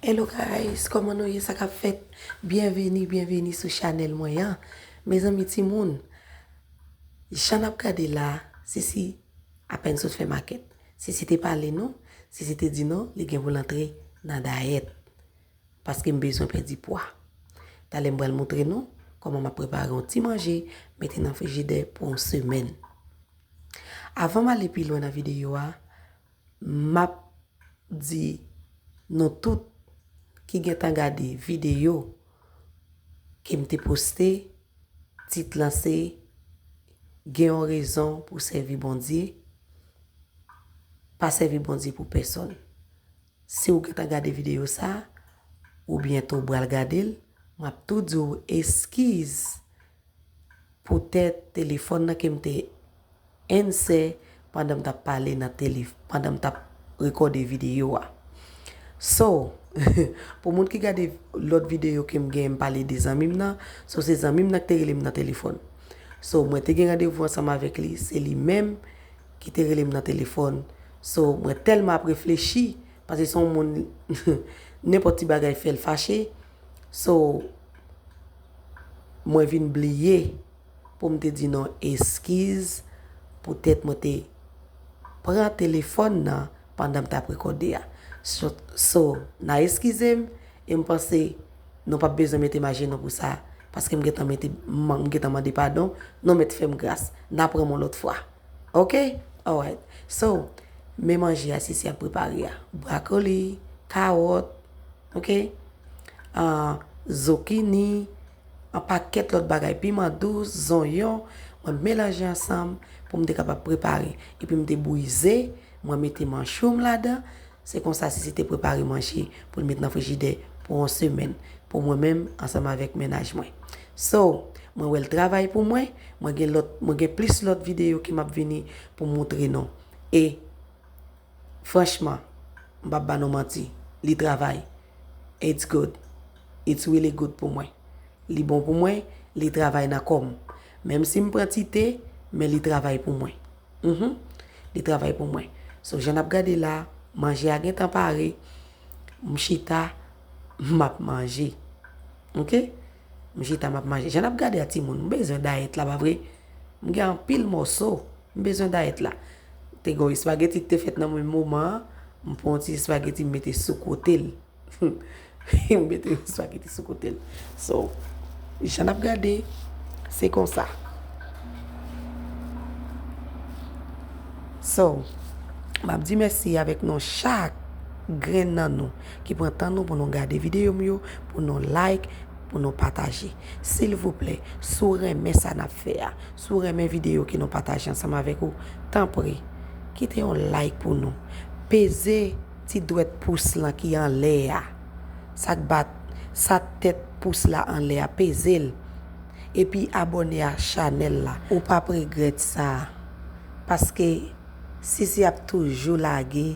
Hello guys koman nou ye sa kap fèt byenveni byenveni sou chanèl mwen an mezanmi ti moun jan nap gade la sisi apèn sot fè makèt sisi te pale nou sisi te di nou li gen pou l antre nan dayèt paske m bezwen pèdi pwa talè m pral moutre nou koman map prepare yon ti manje mete nan frijidè pou yon semèn avan m ale pi lwen nan videyo a Map di Nou tout ki gentan gade video kem te poste tit lan se gen yon rezon pou sèvi Bondye pa sèvi Bondye pou pèsòn si ou gentan gade video sa ou byento bral gadel map tou diw eskiz Poutèt telefòn nan ke m te ansè pandan m t ap pale nan tele, pandan m t ap rekòde videyo a. So, pou moun ki gade lòt videyo ke m gen m pale de zanmi m nan, so se zanmi m nan ki te rele m nan telefòn. So, mwen te gen randevou ansanm avèk li, se li menm ki te rele m nan telefòn. So, mwen tèlman ap reflechi, paske se yon moun nenpòt ti bagay fè l fache. So, Mwen vin bliye pou m te di nou eskiz poutèt mwen te pran telefòn nan pandan m t ap rekòde a. So, n a eskize m e m panse nou p ap bezwen mete m ajenou pou sa paske m gentan mete, m gentan mande padon, nou mèt fè m gras. N a pran m yon lòt fwa. Ok? Alright. So, men manje a Sisi ap prepare a. Brakoli, kawòt. Ok Zokini Yon pakèt lòt bagay Piman dous Zonyon Mwen melanje ansanm Pou m te kapab prepare Epi m te bouyi ze Mwen mete manchou m ladan Se konsa Sisi te prepare manje Pou l met nan frijidè Pou yon semèn Pou mwen menm Ansanm avèk mennaj mwen So Mwen wè l travay pou mwen Mwen gen lòt Mwen gen plis lòt videyo Ki m ap vini Pou m moutre nou E. Franchman, m pap ba nou manti, li travay. It's good. It's really good pou mwen. Li bon pou mwen, li travay nan kò m. Menm si m pran ti te, men li travay pou mwen. Mh. Li travay pou mwen. So jan n ap gade la, manje a gentan pare, m chita, m ap manje. Ok? M chita, m ap manje. Jan n ap gade a timoun, m bezwen dayèt la pa vre? M gen anpil mòso, m bezwen dayèt la. Te gen yon espageti ki te fèt nan menm moman an, m pran yon ti espageti m mete sou kote l. M mete yon espageti sou kote l. So, jan n ap gade, se konsa. So, m ap di mèsi avèk nou chak grenn nan nou ki pran tan nou pou nou gade videyo m yo, pou nou like. pou nou pataje. Silvouplè, si w renmen sa n ap fè a, si w renmen videyo ke nou pataje ansanm avèk ou, tanpri, kite yon like pou nou. Peze ti dwèt pous lan ki anlè a, sa k bat, sa tèt pous la anlè a, peze l. Epi abòne a chanèl la. Ou p ap regrèt sa. Paske Sisi ap toujou lage.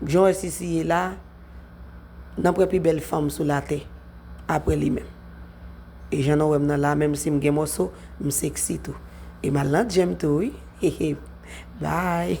Jan w wè Sisi ye la, nan pwen pi bèl fanm sou latè apre li menm. E jan nan wè m nan la, menm si m gen mòso, m seksi tou. E m al nan djem tou wi. Hehe. Bye.